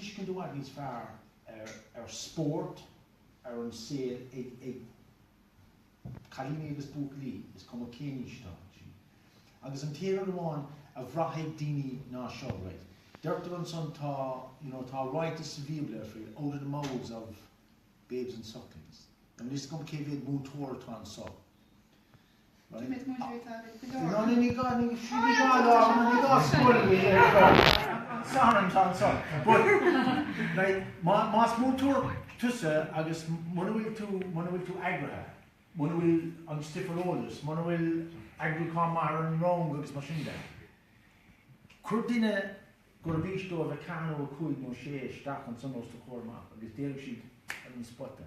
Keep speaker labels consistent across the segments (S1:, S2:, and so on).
S1: tuiscint i bhfad níos fearr ar spórt, ar an saol ag cailíní agus buachaillí, is cuma cén aois atá siad. Agus an t-aon rud amháin a bhraithfidh daoine ná seo, right. Deirtear ansan tá, you know, tá ráiteas sa Bhíobla faoi out of the mouths of babes and sucklings. Now is cuma cé mhéad múinteoir atá anso, Más múinteoir tusa agus muna bhfuil tú, muna bhfuil tú eagraithe, muna bhfuil an stuif ar eolas, muna bhfuil eagrúchán maith ar an rang agus mar sin de, cuir duine gurb aois dóibh a ceathair nó a cúig nó a sé isteach ansan os do chomhair amach agus déarfaidh siad ar an spota.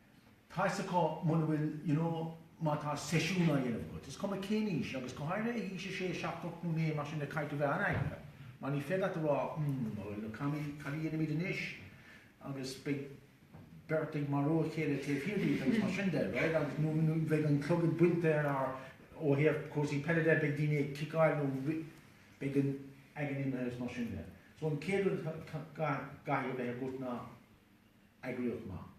S1: Tá 's acu muna bhfuil, you know, má tá seisiún á dhéanamh agat, is cuma cén aois, agus go háirithe ag aois a sé, seacht, ocht nó naoi, mar sin, caithfidh tú a bheith an-eagraithe, mar ní féidir leat a rá, hmm, a Noel, cad a, cad a dhéanfaimid anois, agus beidh beirt ag marú a chéile taobh thiar díot agus mar sin de, right, agus, nó, nó beidh an clogad bainte ar ár, ó thaobh cúrsaí peile de, beidh daoine ag ciceáil nó rith, beidh an fhoighne imithe agus mar sin de. So an chéad rud a chaithfidh a bheith agat ná. eagraíocht maith.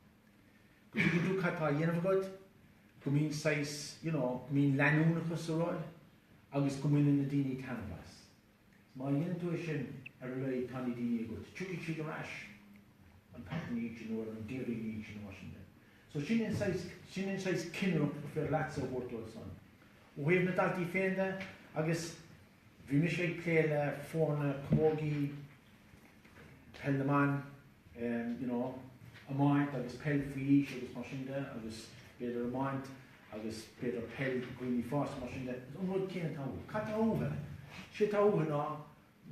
S1: Go dtuigfidh tú cad tá á dhéanamh agat, go mbíonn saghas, you know, go mbíonn leanúnachas sa rud agus go mbaineann na daoine taitneamh as. Má dhéanann tú é sin, ar a laghad tá na daoine agat, tiocfaidh siad ar ais, an babhta ina dhiaidh sin nó ar an Déardaoin ina dhiaidh sin nó mar sin de. So sin é an saghas, sin é an saghas cinnireacht gur féidir leatsa a thabhairt dóibh san. Ó thaobh na daltaí féin de, agus. Bhí mise ag plé le foirne camógaí, peil na mban, you know, iomáint agus peil faoi aois agus mar sin de agus b'fhéidir iomáint agus b'fhéidir peil do dhaoine fásta mar sin de. Is an rud céanna atá uathu. Cad tá uathu? Sé atá uathu ná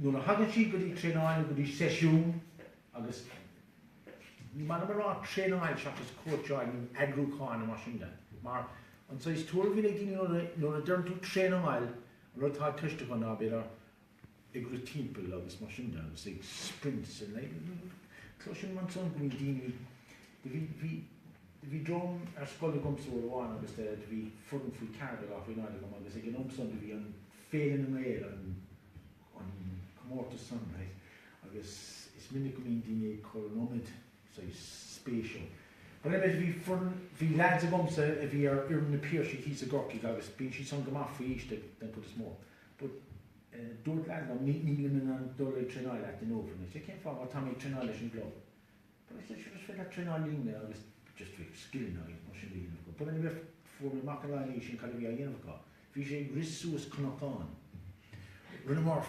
S1: nuair a thagann siad go dtí traenáil nó go dtí seisiún agus ní maith liom a rá traenáil seachas cóitseáil nó eagrúchán nó mar sin de mar an saghas tuairim a bhíonn ag daoine nuair a deireann tú traenáil Rud atá i gceist acu ná b'fhéidir ag rith timpeall agus mar sin de agus ag sprints a leithéid. Cloisim ansan go bhfuil daoine, bhí, bhí, bhí dream ar scoil agamsa uair amháin agus de, do bhí foireann faoi ceathair déag nó faoi naoi déag agam agus ag an am san do bhí an Féile na nGael, an, an comórtas san, right, agus is minic go mbíonn daoine ag cur an iomad, Sea, spéisiúil. But anyway, bhí foireann, bhí leaids agamsa a bhí ar fhoireann na Piarsaigh thíos i gCorcaigh agus bíonn siad san go maith faoi aois den chuid is mó. But dúirt leaid liom, nílim in ann dul ag traenáil leat in Eochaill. I said, cén fáth? Mar tá mé ag traenáil leis an gclub. But I said, sure, is féidir leat traenáil linn agus just bhí scileanna agus mar sin de á dhéanamh acu. But anyway, bhíodh, fuair mé amach ina dhiaidh sin cad a bhí á dhéanamh acu. Bhí sé ag rith suas cnocán. Rinneamar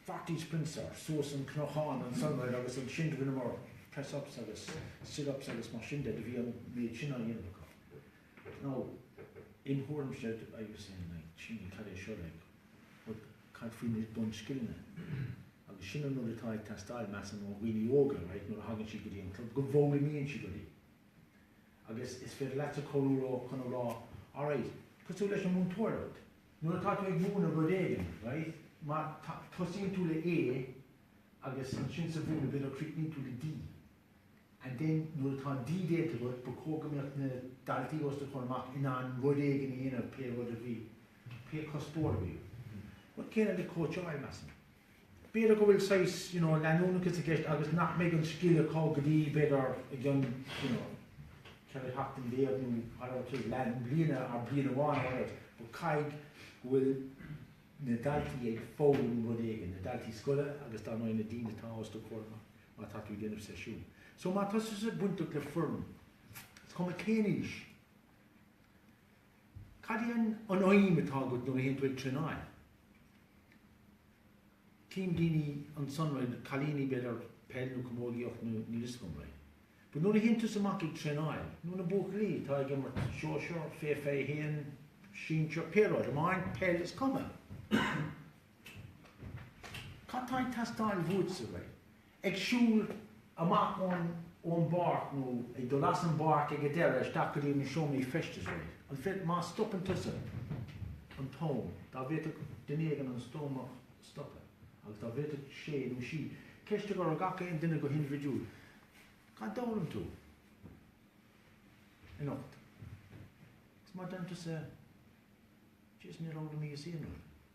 S1: forty sprints ar suas an cnocán ansan air agus ansin do rinneamar press ups agus sit ups agus mar sin de, do bhí an méid sin á dhéanamh acu. Now im thuairimse I was saying like cad é seo like but cad faoi na bun scileanna agus sin an rud atá ag teastáil measaim ó dhaoine óga right nuair a thagann siad go dtí an club go bhfoghlaimíonn siad rudaí agus is féidir leatsa cabhrú leo chun a rá alright cosúil leis an mhúinteoireacht Nuair atá tú ag múineadh rud éigin, right, má tosaíonn tú le A agus ansin sa mhúineadh b'fhéidir críochnaíonn tú le D and then nuair atá an D déanta agat ba chóir go mbeadh na daltaí os do chomhair amach in ann rud éigin a dhéanamh pé rud a bhí, pé cuspóir a bhí agat. Rud céanna le cóitseáil, measaim. b'fhéidir go bhfuil saghas, you know, leanúnachas i gceist agus nach mbeidh an scil acu go dtí, b'fhéidir, i gceann, you know, ceithre sheachtain déag nó whatever it is, leath bliana or bliain amháin or whatever but caithfidh go bhfuil na daltaí ag foghlaim rud éigin, na daltaí scoile agus dar ndóigh na daoine atá os do chomhair má tá tú ag déanamh seisiún. So má tá tusa bainteach le foireann, is cuma cén aois, Cad é an aidhm atá agat nuair a théann tú ag traenáil? Cím daoine ansan rud, cailíní b'fhéidir, peil nó camógaíocht nó níl 'fhios agam rud. But nuair a théann tusa amach ag traenáil, nó na buachaillí atá ag imirt sóisear, fé fiche a haon, sinsir, pé rud, iomáint, peil, is cuma. Cad tá ag teastáil bhuait-sa right? Ag siúl amach ón bpáirc nó ag dul as an bpáirc ag an deireadh isteach go dtí na seomraí feistis right? An féidir, má stopann tusa an t-am, dá bhféadfadh duine éigin an t-am a stopadh agus dá bhféadfadh sé nó sí ceist a chur ar gach aon duine go hindibhidiúil, Cad d'fhoghlaim tú anocht? Is má deir tusa just, níor fhoghlaim mise aon rud.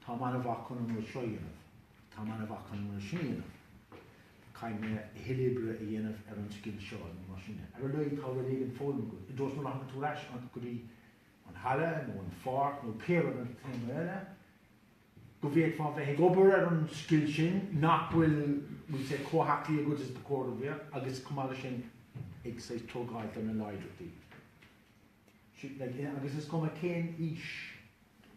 S1: Táim an-mhaith chun an rud seo a dhéanamh. Táim an-mhaith chun an rud sin a dhéanamh. Caithfidh mé a thuilleadh oibre a dhéanamh ar an scil seo nó mar sin de. Ar a laghad tá rud éigin foghlamtha agat. I dtreo is nuair a thagann tú ar ais go dtí an halla nó an pháirc nó pé rud an chéad uair eile, go bhféadfá bheith ag obair ar an scil sin nach bhfuil, we'll say, chomh haclaí agat is ba chóir a bheith agus chomh maith leis sin ag saghas tógáil ar na láidreachtaí. siad le chéile agus is cuma cén aois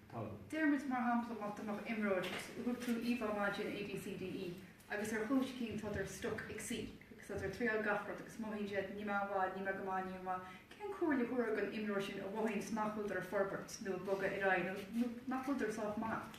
S1: atá
S2: acu. Deir muid, mar shampla, má tá imreoir agat a bhfuil siad an-mhaith ag déanamh ABCDE agus ar chúis eicínt tá siad stuck ag C agus tá siad ag triáil gach rud agus mothaíonn siad níl mé an-mhaith, níl mé go maith, níl mé maith, cén comhairle a thabharfá don imreoir sin a mhothaíonn nach bhfuil siad ag forbairt nó ag bogadh ar aghaidh nó nach bhfuil siad sách maith?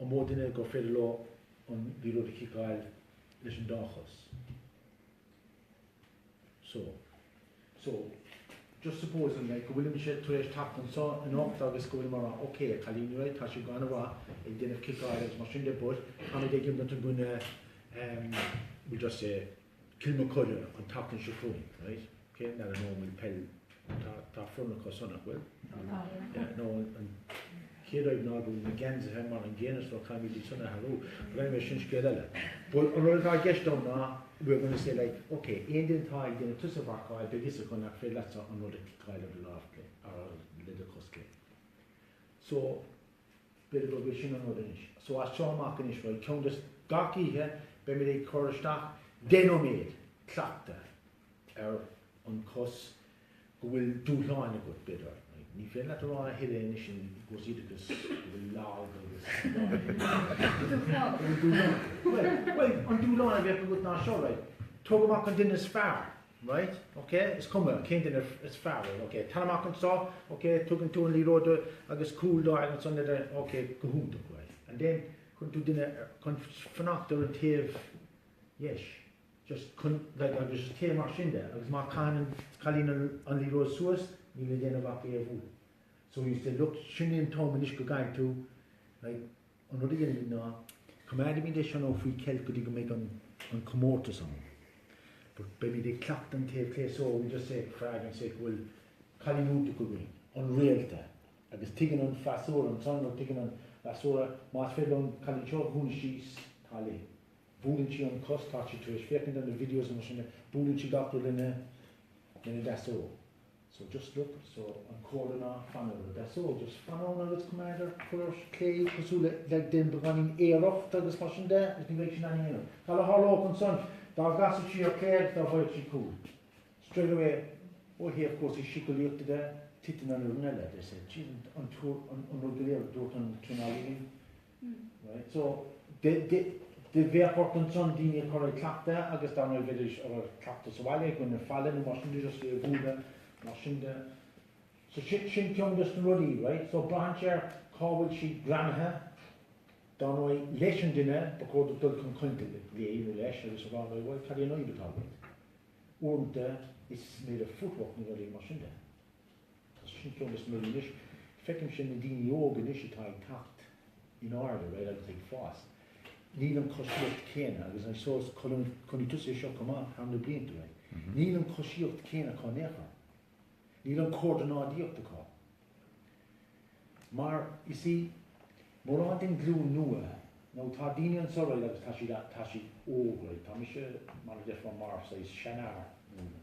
S1: An mó duine gur féidir leo an liathróid a chiceáil leis an dá chos? So. So, just supposing like, go bhfuilimse tar éis teacht anso anocht agus go bhfuilim ag rá, ok, a chailíní right, tá sé go han-mhaith ag déanamh ciceáil agus mar sin de but, táid ag imirt i gcoinne, um, we just say, Kilmacud an tseachtain seo chugainn, right? Cén mbealach an ómóid peil tá tá foireann acusan nach bhfuil? Tá. Yeah, nó an an chéad fhoireann ná go bhfuil na geansaithe mar an gcéanna so caithfimid iad san a athrú. But anyway sin scéal eile. But an rud atá i gceist agam ná we're going to say like ok, aon duine atá ag déanamh tusa a mharcáil beidh a fhios acu nach féidir leatsa an rud a chiceáil ar do lámh clé, a le do chos clé. So B'fhéidir gurb é sin an rud anois. So as seo amach anois, bhuel, ceann des, gach oíche beimid ag cur isteach deich nóiméad cleachtadh ar an cos go bhfuil dúshlán agat, b'fhéidir. Ní féidir leat a rá a thuilleadh anois i gcúrsaí oideachais go bhfuil lag agus dúshláin. Bhuel, an dúshlán a bheadh agat ná seo, right, tóg amach an duine is fearr Right, ok, is cuma cén duine is fearr é, ok, tar amach anso, ok, tugann tú an liathróid agus cúl dó agus ansan ar, ok, go hiontach, right, and then cuireann tú duine ar, chun fanacht ar an taobh dheis, just chun, like, agus just téigh mar sin de agus má chaitheann an cailín an, an liathróid suas, níl le déanamh ach é a bhualadh. So you say, look, sin é an t-am anois go gcaithfidh tú, like, An rud a dhéanaimid ná, coimeádaimid é seo nó faoi cheilt go dtí go mbeidh an comórtas ann. But beimid ag cleachtadh an taobh clé so we just say for argument's sake go bhfuil cailín iontach againn, an réalta, agus tuigeann an freasúra, ansan, tuigeann an freasúra más féidir liom an cailín seo a dhúnadh síos, tá léi. Buaileann sí an cos, tá sí tar éis féachaint ar na videos is mar sin de, buaileann sí gach rud lena, lena deasóg. So just look at so an chomhairle ná fan ar a deasóg just fan ann agus coimeád ar a clé cosúil le like dá mbeinn ag aoireacht agus mar sin de agus ní bheidh sin aithne aonair. Cad a tharlódh ansan dá gcasfadh sí ar clé agus dá bhfaigheadh sí cúl straight away ó thaobh cúrsaí siceolaíochta de titeann an fhoireann eile they say jeez an an rud go léir a dúirt an traenálaí linn. Right, so de, de, de bheadh ort ansan daoine a chur ag cleachtadh agus dar ndóigh bheidís ag cleachtadh sa bhaile i gcoinne an falla nó mar sin de just é a bhualadh mar sin de so sin, sin ceann des na rudaí right so braitheann sé ar cá bhfuil sí greamaithe dar ndóigh leis an duine ba chóir duit dul chun cainte léi nó leis agus a rá bhuel well, cad é an fhadhb atá agat uaireanta is maidir le footwork nó rudaí mar sin de Tá, sin ceann is mó anois. Feicimse na daoine óga anois atá ag teacht in airde, right, agus ag fás. Níl an choisíocht chéanna agus I suppose chonaic tusa é seo chomh maith thar na blianta, right. Níl an choisíocht chéanna acu in aon chor. Níl an chomhordanáidíocht acu. Mar, you see, mórán den ghlúin nua, nó tá daoine anseo, right, agus tá siad, tá siad óg, right. Tá mise, mar a deirfeá, mar saghas seanfhear, you know.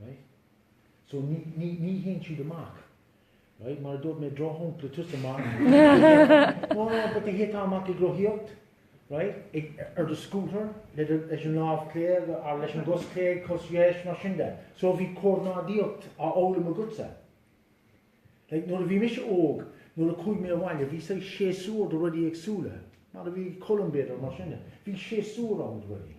S1: Right. So ní, ní, ní théann siad amach. Right, mar a dúirt mé, drochshampla tusa amach, no, no, but théití amach ag rothaíocht, right, ag, ar do scútar, le do, leis an lámh clé agat, or leis an gcos clé, cos dheis, mar sin de. So bhí comhordanáidíocht á fhoghlaim agatsa. Like, nuair a bhí mise óg, nuair a chuaigh mé abhaile, bhí saghas séasúr do rudaí éagsúla, mar a bhí cúl imbéar, mar sin de. Bhí séasúr ann do rudaí.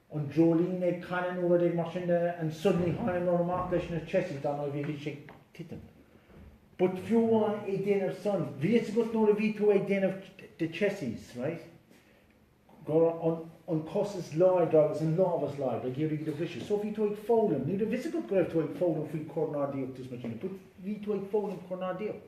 S1: an dreoilín ag canadh nó rud éigin mar sin and suddenly tháinig tú amach leis na chessies dar ndóigh bhí siad ag titim but fiú amháin ag déanamh san bhí a fhios agat nuair a bhí tú ag déanamh the chessies right go raibh an an cos is láidre agus an lámh is láidre ag iarraidh iad a bhriseadh so bhí tú ag foghlaim ní raibh a fhios agat go raibh tú ag foghlaim faoi chomhordanáidíocht is mar sin de but bhí tú ag foghlaim comhordanáidíocht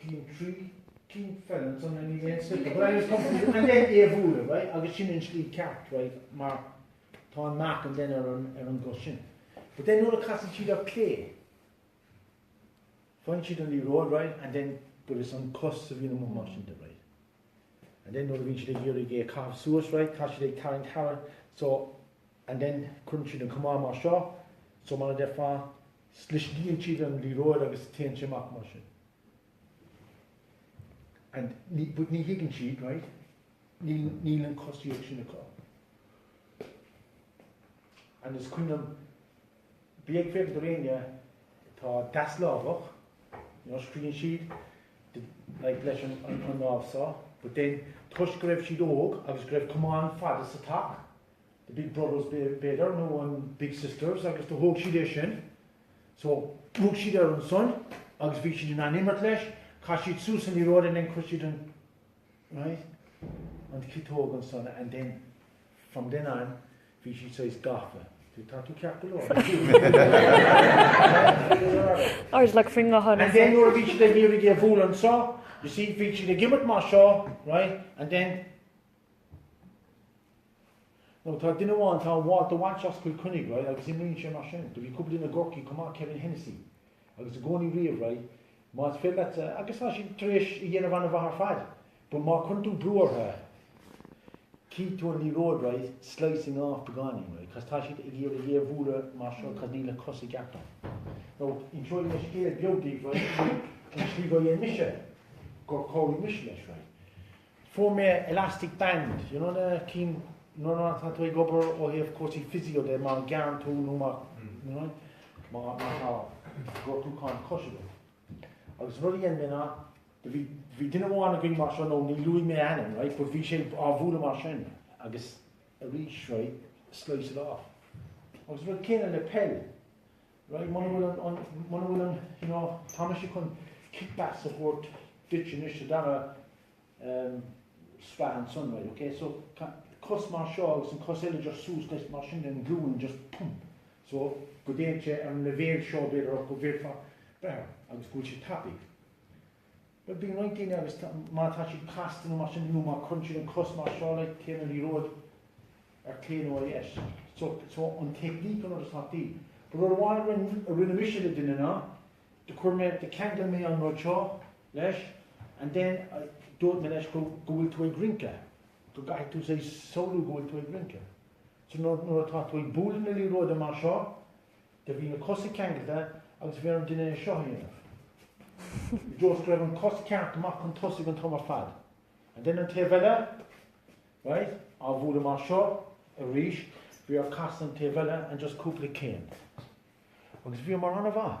S1: Cinn trí, cinn feile atá na Níl aon spiotail but anyways come to and then Aodh Mhúire right agus sin an scil ceart right mar tá mark and then ar an ar an gcos sin but then nuair a casann siad ar clé faigheann siad an liathróid right and then but is an cos a bhíonn amuigh mar sin de right and then nuair a bhíonn siad ag iarraidh é a chaitheamh suas right tá siad ag tarraingt thar so and then cuireann siad an camán mar seo so mar a deirfeá Sliscíonn siad an liathróid agus téann sé amach mar sin. And ní, but ní thuigeann siad, right? Níl, níl an cosíocht sin acu. And is cuimhin liom, bhí ag féachaint ar éinne atá deaslámhach, you know, scríonn siad, the, like, leis an, an, an lámh so, but then toisc go raibh siad óg agus go raibh camán fada sa teach, The Big Brothers b'fhéidir, nó an Big Sisters, agus do thóg siad é sin. So, thug siad air ansan agus bhí siad in ann imirt leis, chaith siad suas an liathróid and then cuir siad an, right, an ciotóg ansan and then, from then on, bhí siad saghas gafa. Bhí, tá tú ceart go
S3: leor. Or like faoin gcamán ansan. And then nuair a bhí siad ag
S1: iarraidh é a bhualadh anso, you see, bhí siad ag imirt mar seo, right, and then, Now tá duine amháin, tá Walter Walsh as Cill Chainnigh, right, agus imríonn sé mar sin. Do bhí cúpla duine i gCorcaigh chomh maith, Kevin Hennessy, agus i gcónaí riamh, right, más féidir leat, agus tá siad tar éis a dhéanamh an-mhaith ar fad, but má cuireann tú brú orthu, cífidh tú an liathróid, right, slicing off beagáinín, right, cos tá siad ag iarraidh é a bhualadh mar seo, cos níl na cosa i gceart ann. Now, inseoidh mé scéal beag daoibh, right, an slí gur dhein mise, gur chabhraigh mise leis, right. Fuair mé elastic band, you know na cinn nuair atá tú ag obair ó thaobh cúrsaí physio de má ghearrann tú nó má you know má má tá gortúchán cois agat. Agus rud a dhein mé ná do bhí bhí duine amháin againn mar sin now ní luafaidh mé ainm right but bhí sé á bhualadh mar sin agus arís right slice it off. Agus rud céanna le peil Right, muna bhfuil an, an, muna bhfuil an, you know, tá mise chun kickbacks a thabhairt duit anois sa dara, um, sraith ansan, right, ok, so, tá cos mar seo agus an cos eile just suas leis mar sin den ghlúin, just pump, so, go dtéann sé ar an leibhéal seo b'fhéidir, go bhféadfá, b'fhéidir, agus go bhfuil sé tapaidh. Bíonn roinnt daoine agus má tá siad casta nó mar sin nó má cuireann siad an cos mar seo le taobh na liathróide ar clé nó ar dheis. So, so an technique an rud is tábhachtaí. But rud amháin a rinne, a rinne mise le duine ná, do chuir mé, do cheangail mé an rud seo leis and then dúirt mé leis go, go bhfuil tú ag rince, go gcaithfidh tú say samhlú go bhfuil tú ag rince. So nuair, nuair atá tú ag bualadh na liathróide mar seo, Do bhí na cosa ceangailte agus bhí ar an duine é seo a dhéanamh. I dtreo is go raibh an cos ceart amach chun tosaigh an t-am ar fad. And then an taobh eile, right, á bhualadh mar seo arís, bhí air casadh an taobh eile and just cúpla céim. Agus bhíomar an-mhaith.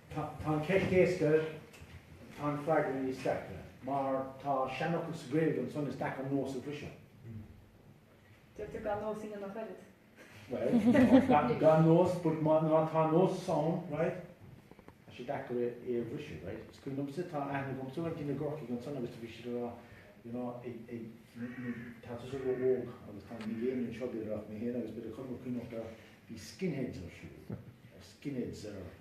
S1: Tá an cheist éasca, tá an freagra níos deacra. Mar tá seanfhocal sa Ghaeilge, ansan is deacair nós a
S2: bhriseadh. Deirtear
S1: gan nós a dhéanamh ach oiread. Bhuel, gan nós, but má tá nós ann, right? Tá sé deacair é a bhriseadh, right? Is cuimhin liomsa tá aithne agam sa bhaint i gCorcaigh ansan agus tá bhí siad ag rá, you know, ag tá tú sort of óg agus tá níl éinne anseo b'fhéidir ach mé héin agus bit a chumar cuineachta bhí skinheads ar siúl. Skinheads ar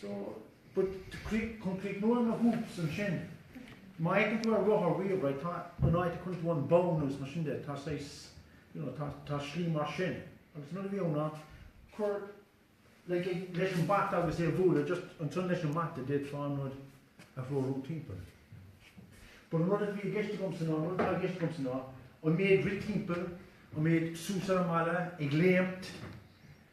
S1: So, but to create, chun críochnú na hoops ansin, má fheiceann tú an rothar riamh, right, tá an áit a gcuireann tú an bonn agus mar sin de, tá saghas, you know, tá, tá slí mar sin, agus an rud a bhí ann ná, cuir, like, ag, leis an bata agus é a bhualadh, just ansan leis an mbata d'fhéadfá an rud a threorú timpeall. But an rud atá i gceist agamsa ná, an rud atá i gceist agamsa ná, an méid rith timpeall, an méid suas ar an mballa, ag léimt,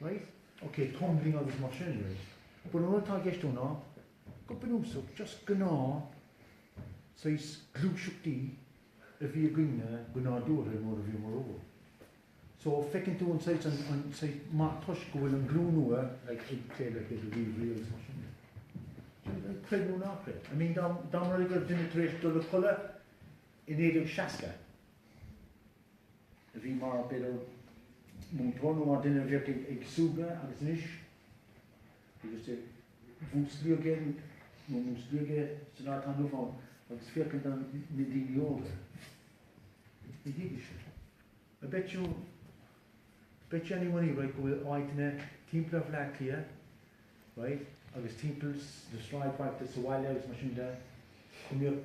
S1: Right? Ok, tumbling agus mar sin arís. But an rud atá i gceist ann ná, go bunúsach, just gnáth-saghas gluaiseachtaí a bhí againn go nádúrtha nuair a bhíomar óg. So, feiceann tú an saghas, an, an saghas meath toisc go bhfuil an ghlúin nua, like, ag plé le David Weavery agus mar sin de. Sea, like, creid nó ná creid. I mean, dá, dá mba rud é go raibh duine tar éis dul a chodladh i 1960, a bhí mar, b'fhéidir, múinteoir nó mar duine a bhíodh ag súgradh agus anois agus go músclódh sé nó músclódh sé san áit atá inniu ann agus féachaint ar na daoine óga. Ní thuigfeadh sé. I bet you any money right go bhfuil áiteanna timpeall ar Bhleá Cliath right agus timpeall na sráidbhailte sa bhaile agus mar sin de go mbíodh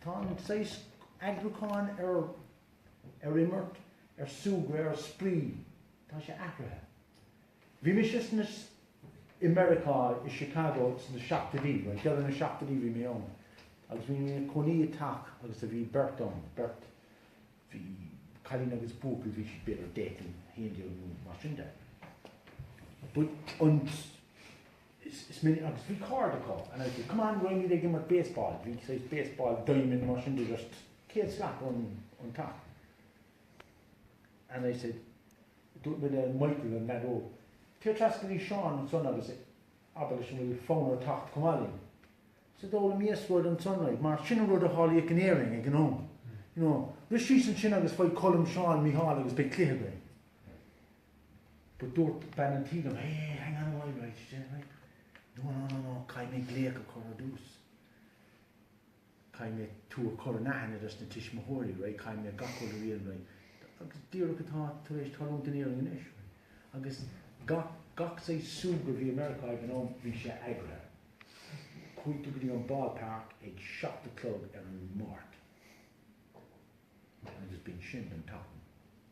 S1: Tá an saghas eagrúcháin ar ar imirt, ar súgradh, ar spraoi, tá sé athraithe. Bhí mise sna, i Meiriceá, i Chicago sna seachtóidí, right, deireadh na seachtóidí bhí mé ann agus bhí mé i mo chónaí i teach agus bhí beirt ann, beirt, bhí cailín agus buachaill, bhí siad b'fhéidir deich nó haon déag nó mar sin de. But an, is minic agus bhí cairde acu and I'd say come on raghaimid ag imirt baseball, bhí saghas baseball diamond nó mar sin de just céad slat ón ón teach and I said dúirt mé le Michael an leaid óg téigh trasna go dtí Seán ansan agus abair leis an bhfuil fonn ort teacht chomh maith linn so d'fhoghlaim mise rud ansan like mar sin an rud a tharlaíodh in Éirinn ag an am you know rith síos ansin agus faigh Colm Seán Micheál agus beidh cluiche againn. But dúirt bean an tí dom, Hey, hey, hang on a while, right, she said, right, No, no, no, no, caithfidh mé glaoch a chur ar dtús. Caithfidh mé tú a chur in aithne dos na tuismitheoirí, right, caithfidh mé gach rud a riar, right, agus díreach atá tar éis tarlúint in Éirinn anois, right, agus gach, gach saghas súgradh a bhí i Meiriceá ag an am, bhí sé eagraithe. Chuaigh tú go dtí an Ball Park ag seacht a chlog ar an Mháirt, and b'shin sin.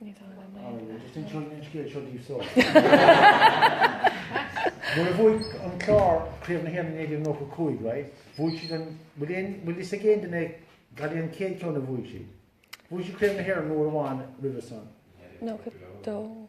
S1: Ní dóigh liom é. Nuair a bhuaigh an Clár Craobh na hÉireann i 1995, right, bhuaigh siad an, bhfuil aon, bhfuil fhios ag aon duine cén bhliain an chéad ceann a bhuaigh siad? Bhuaigh siad Craobh na hÉireann uair amháin roimhe san?
S3: 92.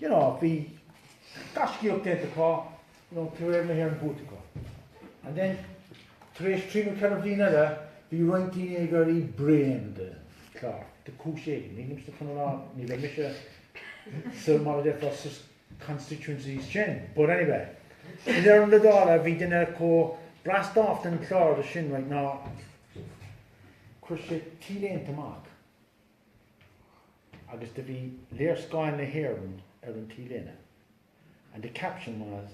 S1: you know, bhí gaiscíocht déanta acu, you know, tar éis Craobh na hÉireann buaite acu. And then, tar éis trí nó ceithre bhliain eile, bhí roinnt daoine ag éirí bréan den Chlár, de chúis éigin, nílimse chun a rá, ní raibh mise sa, mar a déarfá, sa constituencies sin, but anyway. In Áth na nDála, bhí duine chomh browned off den Chlár sin, right, ná chuir sé t-léinte amach, agus do bhí léarscáil na hÉireann ar an T-léine and the caption was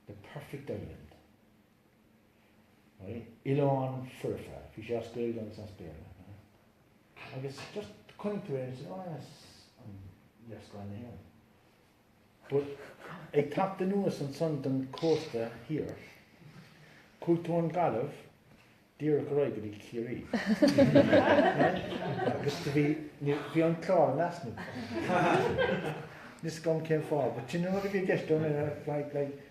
S1: The Perfect Island. Oileán foirfe, bhí sé as Gaeilge agus as Béarla. Agus just chonaic tú é agus tú, oh yes, an léarscáil na hÉireann. Ag teacht anuas ansan don chósta thiar, chuaigh tú ón nGaillimh díreach ar aghaidh go dtí Ciarraí. Agus do bhí, bhí an Clár in easnamh. Níl a fhios agam cén fáth, but sin rud a bhí i gceist agam, like, like,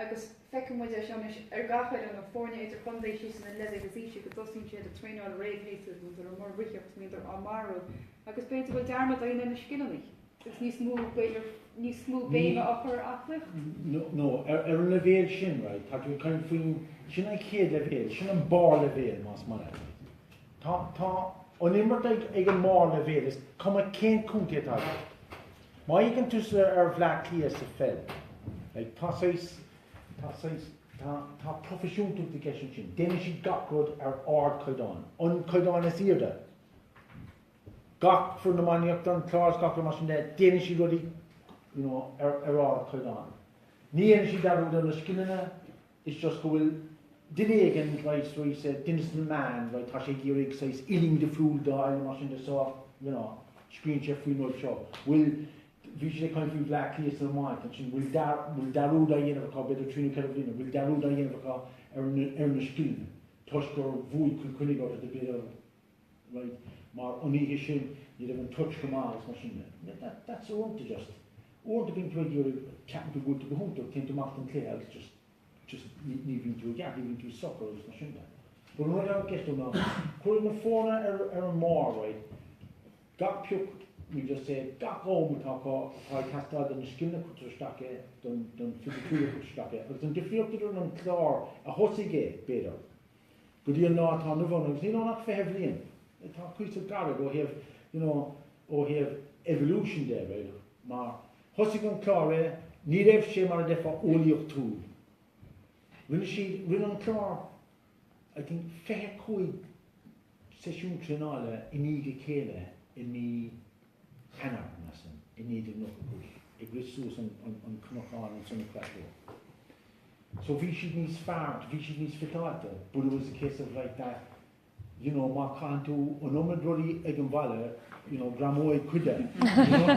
S2: agus feiceann muid é seo anois ar gach fhoireann nó foirne idir-chontae síos ina leibhéil is ísle, go dtosaíonn siad ag traenáil réamhshéasúir, muintir á muirdhíothacht, muintir á marú agus b'fhéidir go bhfuil dearmad againn ar na scileanna. agus níos mó, b'fhéidir, níos mó béime á chur ar aclaíocht. nó
S1: ar an leibhéal sin, right, tá tú ag caint faoin, sin an chéad leibhéal, sin an barr leibhéal más maith leat. Tá an imirt ag an mbarr leibhéal, is cuma cén contae atá agat. Má fhéachann tusa ar Bhleá Cliath sa pheil. Like tá saghas, tá saghas, tá, tá proifisiúntacht i gceist ansin. Déanann siad gach rud ar ard chaighdeán. An caighdeán is airde. Gach foireann iománaíochta, an Clár is gach rud mar sin de, déanann siad rudaí, you know, ar, ar ard chaighdeán. Ní dhéanann siad dearúd ar na scileanna, It's just go bhfuil duine éigin right so he said duine sna meáin right tá sé ag iarraidh saghas uillinn difriúil d'fháil mar sin de so you know scríonn sé faoin rud seo. Bhuel bhí siad ag caint faoi Bhleá Cliath san iomáint ansin bhfuil dar bhfuil dearúd á dhéanamh acu b'fhéidir trí nó ceithre bliana bhfuil dearúd á dhéanamh acu ar na ar na scileanna toisc gur bhuaigh Cill Chainnigh orthu de b'fhéidir Right, mar an oíche sin ní raibh an touch go maith agus mar sin de. That, that, that's uaireanta just, uaireanta bíonn tú ag iarraidh, ceapann tú go bhfuil tú go hiontach, téann tú amach don cluiche agus just, just ní, ní bhíonn tú i gceart, ní bhíonn tú socair agus mar sin de. But an rud eile i gceist ná, chuir na foirne ar, ar an mór, right, gach pioc, we just say, gach am atá acu, tá ag teastáil don scileanna cuirtear isteach é, don, don fisiciúlacht cuirtear isteach é, agus an difríocht idir an Clár a thosaigh é, b'fhéidir, go dtí an lá atá inniu ann agus níl ann ach fiche bliain, atá cuíosach gairid ó thaobh, you know, ó thaobh evolution de, right, mar thosaigh an Clár é, ní raibh sé mar a déarfá eolaíochtúil. Rinne siad, rinne an Clár I think fiche cúig seisiún traenála i ndiaidh a chéile i mí Eanáir ansin i 1995 ag rith suas an cnocán ins an Cratloe. So bhí siad níos fearr, bhí siad níos fiteáilte but it was a case of like that you know má caitheann tú an iomad rudaí ag an mballa you know greamóidh cuid de you know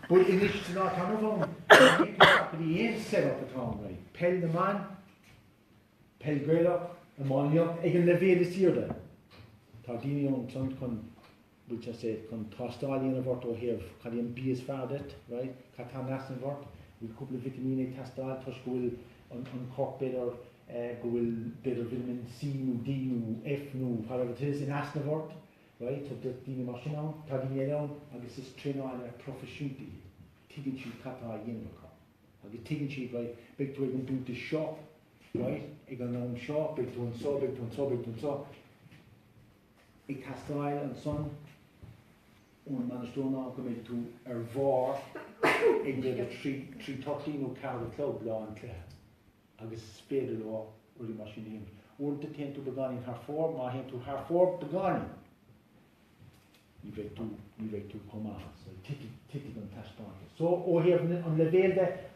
S1: but anois tá ná tamall ann ní fhéadfainn glacadh le aon set up atá ann right peil na mban, peil Gaelach, iománaíocht ag an leibhéal is aoirde tá daoine ansan chun bhfuil tú safe, chun tástáil a dhéanamh ort ó thaobh cad é an bia is fearr duit, right? Cad tá in easnamh ort? Bhfuil cúpla vitimín ag teastáil toisc go bhfuil an an corp b'fhéidir eh go bhfuil b'fhéidir vitamin C nó D nó F nó whatever it is in easnamh ort, right? Tá daoine mar sin ann, tá daoine eile ann agus is traenálaithe proifisiúnta iad. Tuigeann siad cad tá á dhéanamh acu. Agus tuigeann siad right, beidh tú ag an dáta seo, right? Ag an am seo, beidh tú anseo, beidh tú anseo, beidh tú anseo. ag teastáil ansan ón mbainisteoir ná go mbeidh tú ar bharr ag méid a trí, trí thirty nó ceathair a chlog lá an chluiche agus is féidir leo rudaí mar sin a dhéanamh. Uaireanta téann tú beagáinín thar fóir, má théann tú thar fóir beagáinín ní bheidh tú, ní bheidh tú chomh maith. So titfidh, titfidh an taispeántas. So ó thaobh an leibhéil de,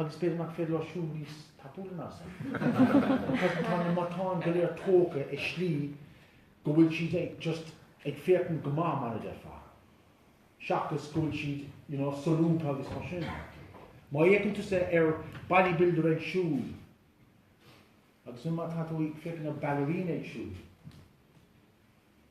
S1: Agus b'fhéidir nach féidir leo siúl níos tapúla ná san. Agus tá na matáin go léir tógtha i slí go bhfuil siad ag just ag féachaint go maith mar a déarfá, seachas go bhfuil siad, you know, solúbtha agus mar sin. Má fhéachann tusa ar bodybuilder ag siúl, agus má tá tú ag féachaint ar ballerina ag siúl,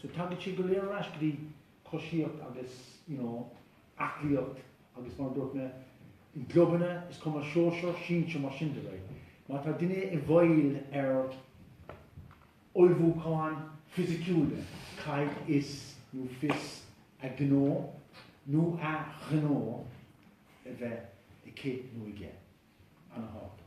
S1: So tagann siad go léir ar ais go dtí coisíocht agus you know aclaíocht agus mar a dúirt mé, i gclubanna is cuma sóisear, sinsir mar sin de, right. Má tá duine i bhfeighil ar ullmhúcháin fisiciúla caithfidh is dóigh fios a gnó nó a ghnó a bheith aici nó aige. An-tábhachtach.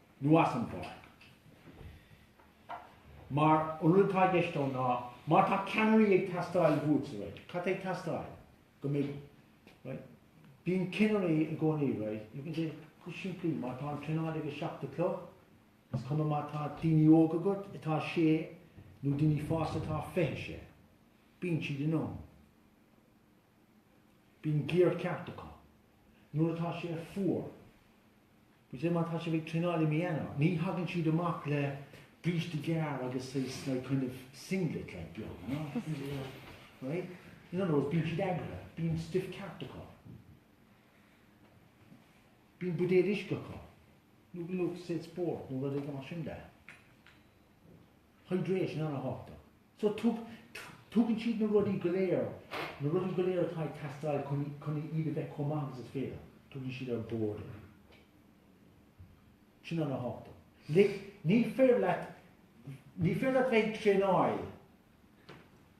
S1: nó as an bpáirc. Mar, an rud atá i gceist ann ná, má tá ceannairí ag teastáil uait, right, cad tá ag teastáil? Go mbeidh, right, bíonn cinnirí i gcónaí, right, you can say, go simplí, má tá an traenáil ag a seacht a chlog, is cuma má tá daoine óga agat atá sé nó daoine fásta atá fiche sé, bíonn siad in am. Bíonn giar ceart acu nuair atá sé fuar. Bíonn sé má tá sibh ag traenáil i mí Eanáir. Ní thagann siad amach le bríste gearr agus is like kind of singlet like beag, you know. Right? In other words, bíonn siad eagraithe. Bíonn stuif ceart acu. Bíonn buidéil uisce acu. Nó Lucozade Sport nó rudaí mar sin de. Hydration ana-thábhachtach. So tug, tugann siad na rudaí go léir, na rudaí go léir atá ag teastáil chun, chun iad a bheith chomh maith agus is féidir, tugann siad ar bord. Sin ana-thábhachtach. Like, ní féidir leat, ní féidir leat bheith ag traenáil.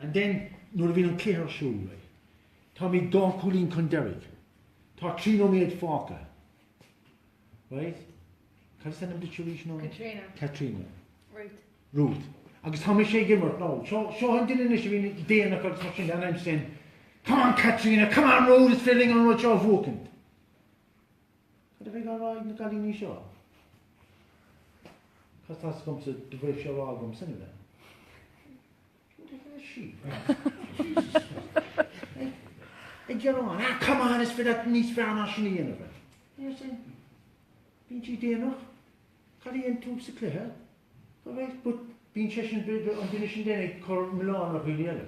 S1: And then, nuair a bhíonn an cluiche ar siúl, táimid dhá chúilín chun deiridh, tá trí nóiméad fágtha, right? Cad is ainm duit arís now? Caitríona. Caitríona.
S2: Ruth.
S1: Ruth. Agus tá mise ag imirt, nó seo, seo an duine anois a bhíonn déanach agus mar sin de, and I'm saying, Come on Caitríona, come on Ruth, is féidir linn an rud seo a bhuachaint. Cad a bheidh á rá ag na gcailíní seo? 'Cause tá a fhios agamsa do bheadh sé á rá agamsa anyway? Who the hell is she? Jesus Christ. Ag gearán, ah come on, is féidir leat níos fearr ná sin a dhéanamh. Bíonn siad déanach. Cad a dhein tú sa cluiche? Alright but bíonn sé sin an duine sin then ag cur milleán ar dhaoine eile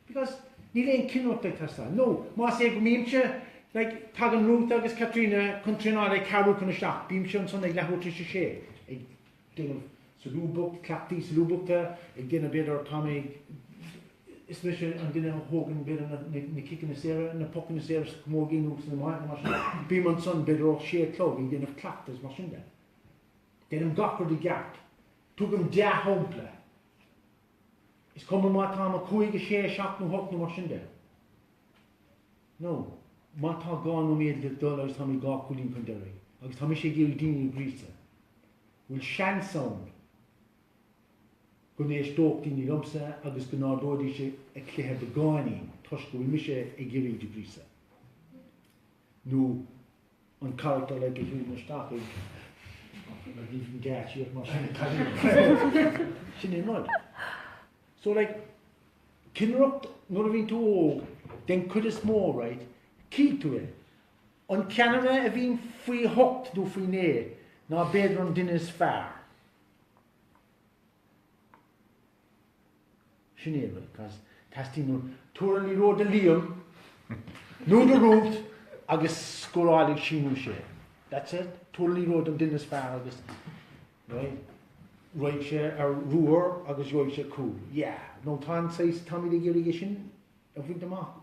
S1: because níl aon cinnireacht ag teastáil nó más é go mbímse like tagann Ruth agus Caitríona chun traenáil ag ceathrú chun a seacht bímse ansan ag leathuair tar éis a sé ag déanamh solúbthacht cleachtaí solúbthachta ag déanamh b'fhéidir tá mé ag Is mise an duine a thógann b'fhéidir na na ciceanna saora, na pocanna saora sa camógaíocht nó san iománaíocht. Bím ansan b'fhéidir ó sé a chlog ag déanamh cleachtaidh is mar sin de. Deinim gach rud i gceart. Tugaim dea-shampla. Is cuma má táim a cúig, a sé, a seacht nó hocht nó mar sin de. Nó, má tá dhá nóiméad le dul agus tá mé dhá cúilín chun deiridh agus tá mise ag iarraidh daoine a ghríosadh, bhfuil seans ann go n-éisteodh daoine liomsa agus go n-ardóidís a gcluiche beagáinín toisc go bhfuil mise ag iarraidh iad a ghríosadh nó an carachtar eile a thagann isteach i mar ní bhíonn gait thiar mar sin ag tarraingt an chluiche. Sin é an rud. So like, cinnireacht nuair a bhíonn tú óg, den chuid is mó, right, cífidh tú é. An ceannaire a bhíonn faoi hocht nó faoi naoi ná b'fhéidir an duine is fearr. Sin é, bhuel, because teastaíonn uaim tabhair an liathróid do Liam nó do Ruth agus scórálfaidh sí nó sé. That's it. Tabhair an liathróid don duine is fearr agus raghaidh sé ar ruathar agus gheobhaidh sé cúl. Yeah. Nó tá an saghas, táimid ag iarraidh é sin a bhaint amach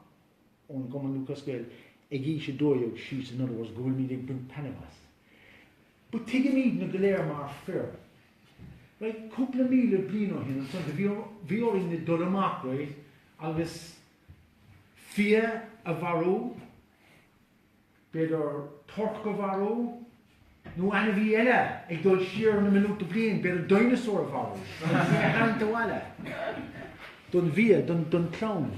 S1: ón gCumann Lúthchleas Gael ag aois a dó dhéag síos in other words go bhfuilimid ag baint taitneamh as. But tuigimidne go léir mar fir. Right, cúpla míle bliain ó shin ansan do bhí orainne dul amach, right, agus fia a mharú, b'fhéidir torc a mharú, nó ainmhí eile ag dul siar na milliúnta bliain, b'fhéidir dineasár a mharú, é a thabhairt abhaile, don bhia, don clann.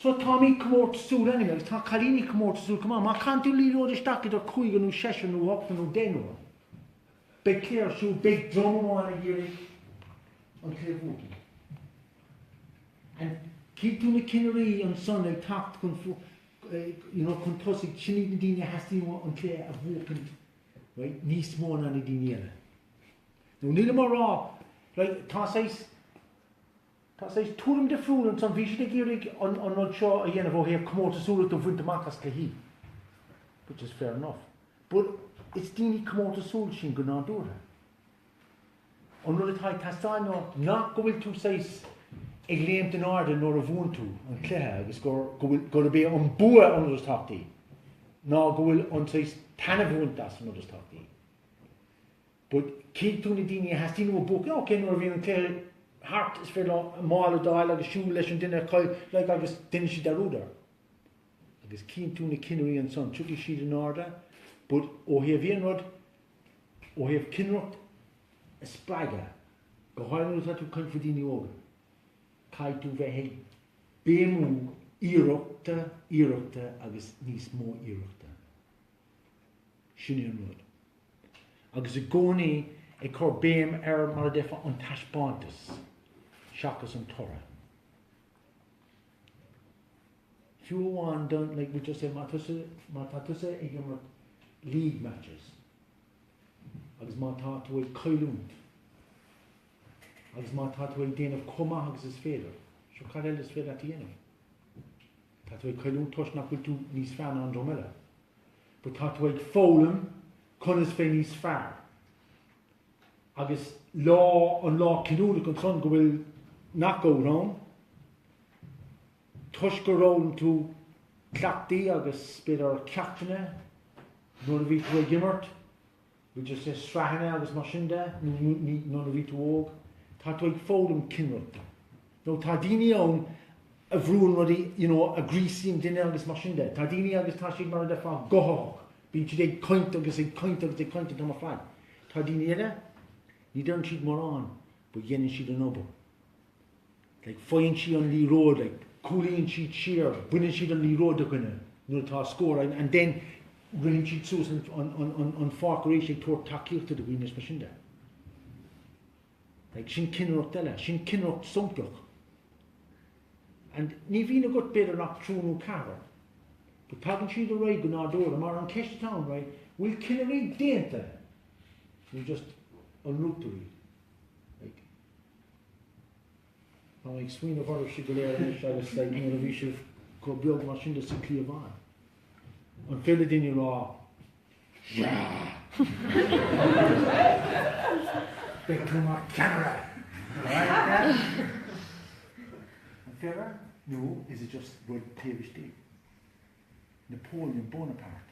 S1: So táimid comórtasúil anyway agus tá cailíní comórtasúil chomh maith. Má chaitheann tú liathróid isteach idir cúigear nó seisear nó ochtar nó deichniúr beidh cluiche ar siúl, beidh dream amháin ag iarraidh an cluiche a bhuachan. And cífidh tú na cinnirí ansan ag teacht chun you know, chun tosaigh sin iad na daoine a theastaíonn an cluiche a bhuachan right? níos mó na na daoine eile. Now níl mé ag rá right? tá Tá saghas tuairim difriúil ansan, bhí siad ag iarraidh an rud seo a dhéanamh ó thaobh comórtasúlachta a bhaint amach as cluichí, which is fair enough, but is daoine comórtasúil sinn go nádúrtha. An rud atá ag teastáil ná nach go bhfuil tú saghas ag léimt in airde nuair a bhuann tú an cluiche agus gurb é an bua an rud is tábhachtaí, ná go bhfuil an saghas taitneamh a bhaint as an rud is tábhachtaí. But cífidh tú na daoine a theastaíonn uathu bua, OK, nuair a bhíonn an cluiche thart is féidir leo a mála a d'fháil agus siúl leis an duine a chaill, like, agus déanann siad dearúd air. Agus cíonn tú na cinnirí ansan, tiocfaidh siad in airde but ó thaobh aon rud, ó thaobh cinnireacht a spreagadh, go háirithe nuair atá tú ag caint faoi daoine óga, caithfidh tú bheith ag béimiú iarrachta, iarrachta agus níos mó iarrachta. Sin é an rud. agus i gcónaí ag cur béim ar mar a déarfá an taispeántas seachas an toradh. Fiú amháin don, like we just say, má tá tusa ag imirt league matches agus má tá tú ag cailliúint agus má tá tú ag déanamh chomh maith agus is féidir, sure cad eile is féidir leat a dhéanamh? Tá tú ag cailliúint toisc nach bhfuil tú níos fearr ná an dream eile. But tá tú ag foghlaim conas a bheith níos fearr. Agus lá, an lá cinniúnach ansan go bhfuil knockout ann, toisc gur fhoghlaim tú cleachtaí agus b'fhéidir ceachtanna nuair a bhí tú ag imirt, We just say sraitheanna agus mar sin de, nuair a bhí tú óg. Tá tú ag foghlaim cinnireacht. Now tá daoine ann a bhrúnn rudaí, you know, a ghríosaíonn duine agus mar sin de. Tá daoine agus tá siad mar a déarfá guthach. Bíonn siad ag caint agus ag caint agus ag caint an t-am ar fad. Tá daoine eile, ní deireann siad mórán, but dhéanann siad an obair. Like faigheann siad an liathróid, like, cúlaíonn siad siar, baineann siad an liathróid de dhuine nuair atá scór, and then ritheann siad suas an pháirc arís ag tabhairt tacaíochta do dhaoine, is mar sin de. Like, sin cinnireacht eile, sin cinnireacht samplach. And ní bhíonn agat b'fhéidir ach triúr nó ceathrar, but tagann siad, right, go nádúrtha, mar an cheist atá ann right, bhfuil cinnirí déanta, nó just an rútaí? Tá mé ag smaoineamh orthu siúd go léir anois agus like nuair a bhí sibh chomh beag mar sin le sa cliabhán, an féidir daoine a rá yeah! Beidh tú mar cheannaire! An féidir? Nó is it just rud taobh istigh? Napoleon Bonaparte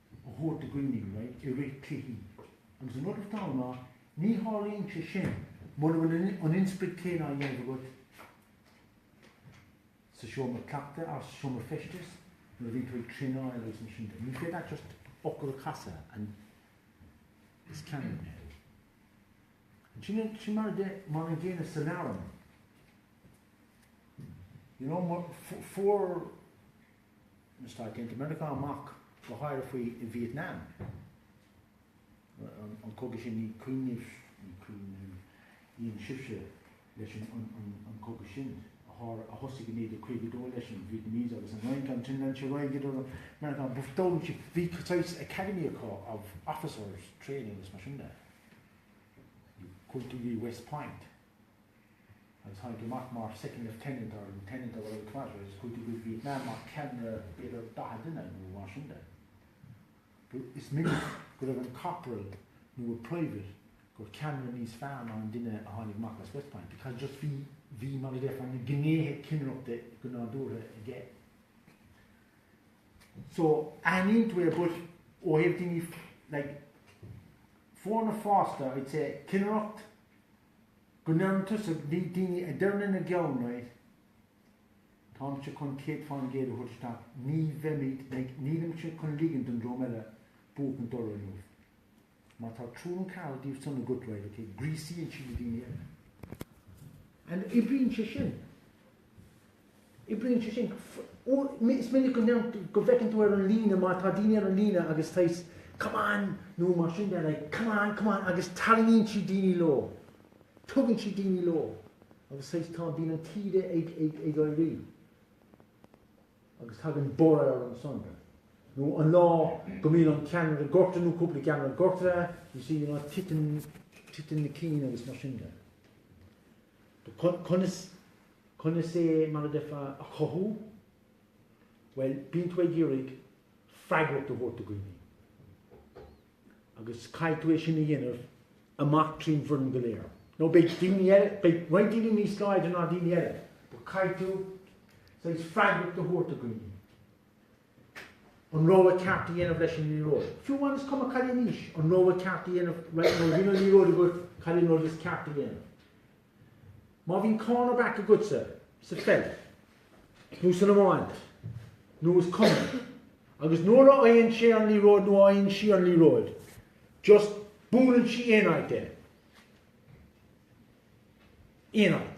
S1: a thabhairt i gcuimhne dóibh i rith cluichí agus an rud is dona ná ní tharlaíonn sé sin mura bhfuil an inspioraid chéanna á dhéanamh agat sa seomra cleachtaidh agus sa seomra feistis nuair a bhíonn tú ag traenáil agus mar sin de. Ní féidir leat just fhocal a chasadh and is ceannaire mé. Sin mar de mar an gcéanna sa leabhar. You know, fuair na Stáit Aontaithe Meiriceá amach, go háirithe faoi Vietnam, an cogadh sin, ní cuimhin, ní cuimhin libhse leis an cogadh sin, a thosaigh i 1952 leis an Vietnamese agus an Fhrainc, ansin an troid idir na Meiriceá, bhuel, d'fhoghlaim siad, bhí saghas academy acu of officers training agus mar sin de, cúrsaí West Point. agus tháinig amach mar Second Lieutenant or Lieutenant or whatever agus chuaigh tú go Vietnam mar ceannaire b'fhéidir 40 duine nó mar sin de. Is minic go raibh an Corporal nó a Private ina cheannaire níos fearr ná an duine a tháinig amach as West Point because just bhí bhí mar a déarfá na gnéithe ceannaireachta go nádúrtha aige. So aithníonn tú é but ó thaobh daoine like foirne fásta I'd say ceannaireacht, Go dteastaíonn daoine a deireann ina gceann right Táimse chun céad faoin gcéad a thabhairt isteach, ní bheimid, like, nílimse chun ligean don dream eile buachan orainn inniu. Má tá triúr nó ceathrar díobh san agat, well, okay, gríosaíonn siad na daoine eile. And oibríonn sé sin. Oibríonn sé sin. Is minic go ndéan, go bhfeiceann tú ar an líne má tá daoine ar an líne agus tá a fhios agat come on nó mar sin de like come on, come on agus tarraingíonn siad daoine leo, tugann siad daoine leo agus tá a fhios agat tá, bíonn an taoide ag, ag, ag éirí agus tagann borradh ar an Sunday. Nó an lá go mbíonn an ceannaire gorta nó cúpla ceannaire gorta, you see, you know, titeann, titeann na cinn agus mar sin de. Conas, conas é mar a deirfeá, a chothú? Bhuel, bíonn tú ag iarraidh freagracht a thabhairt do dhaoine. Agus caithfidh tú é sin a dhéanamh amach trín bhfoireann go léir. Now beidh daoine eile, beidh roinnt daoine níos láidre ná daoine eile, but caithfidh tú saghas freagracht a thabhairt do dhaoine. an rogha ceart a dhéanamh leis an liathróid. Fiú amháin is cuma cad é an aois, an rogha ceart a dhéanamh right now, bíonn an liathróid agat, cad é an rud is ceart a dhéanamh. Má bhíonn cornerback agatsa sa pheil, nó san iomáint, nó is cuma, agus nuair a fhaigheann sé an liathróid nó a fhaigheann sí an liathróid, just buaileann sí aon áit é. Aon áit.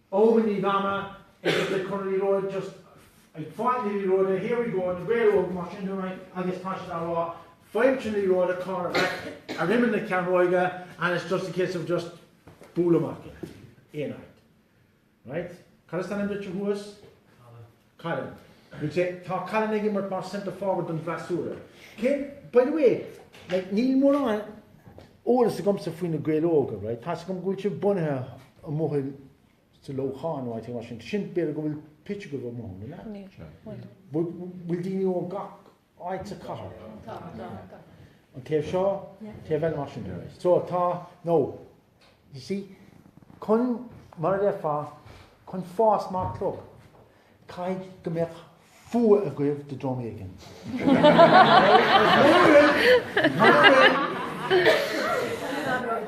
S1: Eoghain Uí Mhaine, ag obair chun an liathróid just ag fáil an liathróid here we go na Gaeil óga mar sin dúinn agus tá siad á rá faigh an liathróid corner back ar imeall na cearnóige and it's just a case of just buail amach aon áit right Cad is ainm duit a thuas Colm. We'll say, tá Colm ag imirt mar centre forward don bhfreasúra. Okay, by the way, like, níl mórán eolas agamsa faoi na Gaeil Óga, right? Tá's agam go bhfuil sibh bunaithe amuigh in, sa Leamhcán nó áit éigin, mar sin. Sin, b'fhéidir go bhfuil pitch agaibh amuigh ann, an ea? Níl. Bhfuil daoine ó gach. áit sa chathair. an taobh seo, taobh eile mar sin. So tá, nó, you see, chun mar a déarfá, chun fás mar chlub, caithfidh go mbeadh fuath agaibh de dream éigin. Mura bhfuil, mura bhfuil.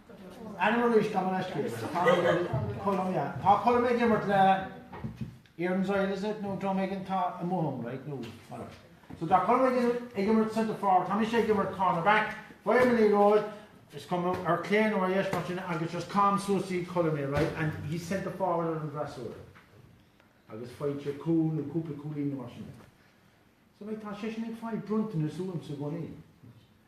S1: Ainm arís gabh mo leithscéal. Tá mé ag colm, yeah. Tá colm ag imirt le Erin's Isle is it? nó dream éigin atá amuigh ann, right? nó whatever. So tá colm ag ag imirt Centre Forward, tá mise ag imirt Corner Back, faighim an liathróid, is cuma ar clé nó ar dheis mar sin agus just caithim suas go dtí Colm é, right? And he's Centre Forward ar an bhfreasúra. Agus faigheann sé cúl nó cúpla cúilín nó mar sin de. So like tá seisean ag fáil bronntanais uaimse i gcónaí.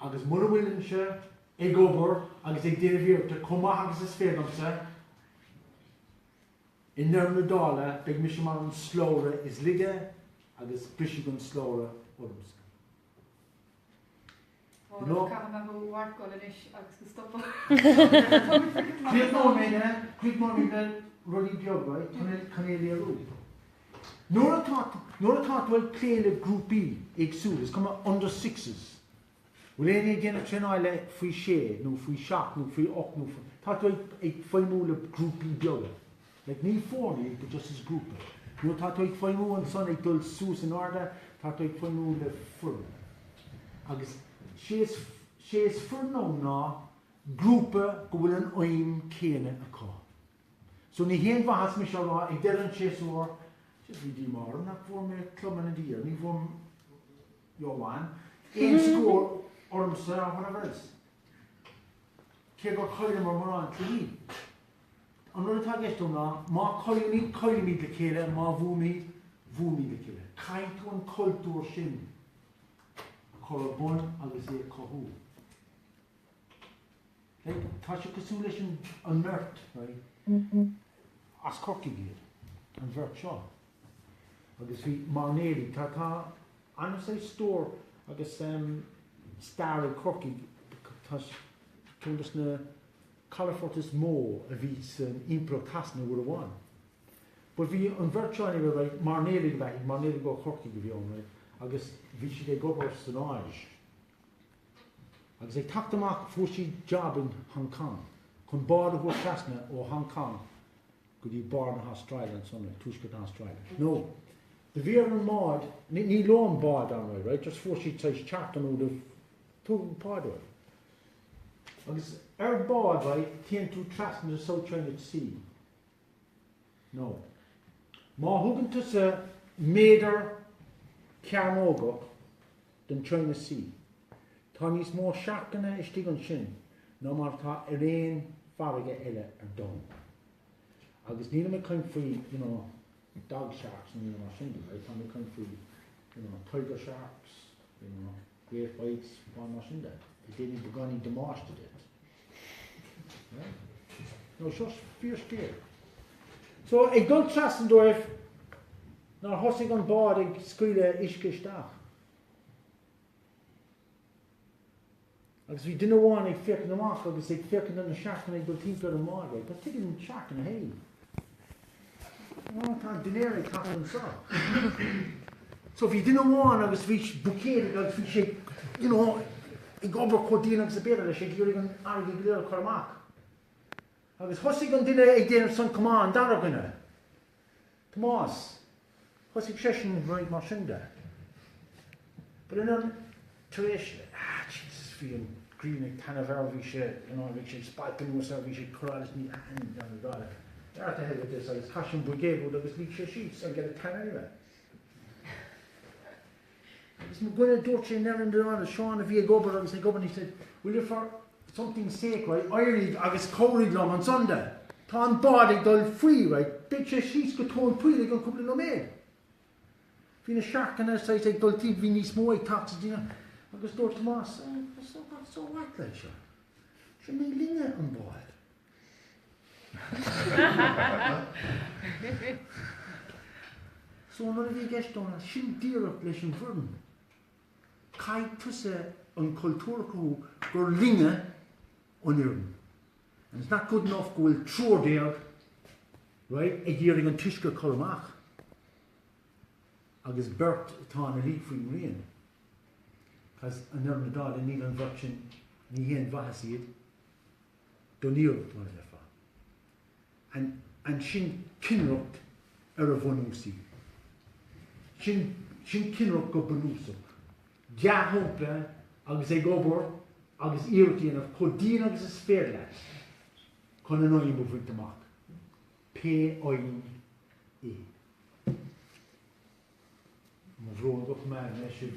S1: agus mura bhfuilimse ag obair agus ag déanamh iarrachta chomh maith agus is féidir liomsa i ndeireadh na dála beidh mise mar an slabhra is laige agus brisfidh an slabhra ormsa.
S2: Ó, You know? caithfidh mé mo mharcáil anois agus go stopfá. Críochnóidh
S1: mé le, críochnóidh mé le rudaí beaga, chun é, chun é a léiriú. Nuair atá, nuair atá tú ag plé le grúpaí éagsúla, is cuma, under sixes, bhfuil éinne ag déanamh traenáil le faoi sé nó faoi seacht nó faoi ocht nó faoi, tá tú ag, ag feidhmiú le grúpaí beaga. Like ní foirne iad but just is grúpa. Nuair atá tú ag feidhmiú ansan ag dul suas in airde, tá tú ag feidhmiú le foireann. Agus sé is, sé is foireann ann ná grúpa go bhfuil an aidhm céanna acu. So ní haon mhaitheas mise a rá ag deireadh an tséasúir, Jeez, bhí díomá orm nach bhfuair mé Club Man of the Year, ní bhfuair Jó Juan aon scór ormsa or whatever else, cé gur chailleamar mórán cluichí. An rud atá i gceist agam ná má chaillimid, caillimid le chéile and má bhuaimid, bhuaimid le chéile. Caithfidh tú an cultúr sin a chur ar bun agus é a chothú. Like, tá sé cosúil leis an, an mbeirt, right, as Corcaigh iad, an bheirt seo. Agus bhí máirnéalaigh, tá, tá an saghas stór agus em stair ag Corcaigh, tá ceann dos na calafoirt is mó a bhí san Impireacht Shasana uair amháin. But bhí an bheirt seo anyway, right, máirnéalaigh a bheith, máirnéalaigh ó Chorcaigh a bhí ann, right, agus bhí siad ag obair san Áis. Agus ag teacht amach fuair siad jab in Hong Cong chun bád a thabhairt trasna ó Hong Cong go dtí barr na hAstráile ansan, ag Tuaisceart na hAstráile. Now do bhí ar an mbád, ní leo an bád anyway, right, just fuair siad saghas charter nó do tugadh pá dóibh. Agus ar bád, right, téann tú trasna the South China Sea, now má thugann tusa méadar cearnógach den China Sea, tá níos mó searcanna istigh ansin ná mar atá ar aon farraige eile ar domhan. Agus nílim ag caint faoi, you know, dog sharks nó rud mar sin, right, táim ag caint faoi, you know, tiger sharks, you know. Great Whites agus mar sin de. A dhéanfadh beagáinín damáiste duit. Now seo fíorscéal. So, ag dul trasna dóibh, nár thosaigh an bád ag scaoileadh uisce isteach. Agus bhí duine amháin ag féachaint amach agus ag féachaint ar na searcanna ag dul timpeall ar an mbád. Right, but tuigeann na searcanna féin. Ó, tá dinnéar ag teacht anso. So bhí duine amháin agus bhí buicéad aige agus bhí sé you know ag obair chomh dian agus ab fhéidir leis ag iarraidh an fharraige go léir a chur amach. Agus thosaigh an duine ag déanamh san, Come on, an dara duine, Tomás, Thosaigh seisean right mar sin de. But ansan tar éis, Jesus, bhí an ghrian ag taitneamh air, bhí sé you know, bhí sé ag spalpadh anuas air, bhí sé ag cur allais ní aithin John Ó Dálaigh dúirt, To hell with this, agus chaith sé an buicéad uaidh agus luigh sé síos and get a tan anyway. Is mo dhuine, dúirt sé, Neville and Donald, Seán a bhí ag obair agus ag obair and he said, Will you for something sake, right, éirigh agus cabhraigh liom anso. Tá an bád ag dul faoi, right, beidh sé síos go tóin poill i gceann cúpla nóiméad. Bhí na searcanna ansúd ag dul timpeall, bhí níos mó ag teacht sa dtír agus dúirt Tomás, So what, so what, like, seo, seo ní linne an bád. So nuair a bhí i gceist dó ansin díreach leis an bhfoireann, caithfidh tusa an cultúr a chruthú gur linne an fhoireann and it's not good enough go bhfuil triúr déag, right, ag iarraidh an t-uisce a chur amach agus beirt atá ina luí faoin ngrian, cos i ndeireadh na dála níl an bheirt sin, ní haon mhaitheas iad, don iarracht mar a déarfá. And sin cinnireacht ar a bhunúsaí. Sin cinnireacht go bunúsach. Dea-shampla agus ag obair agus iarracht a dhéanamh chomh dian agus is féidir leat chun an aidhm a bhaint amach, pé aidhm é. Mo bhróg go maire mé sibh.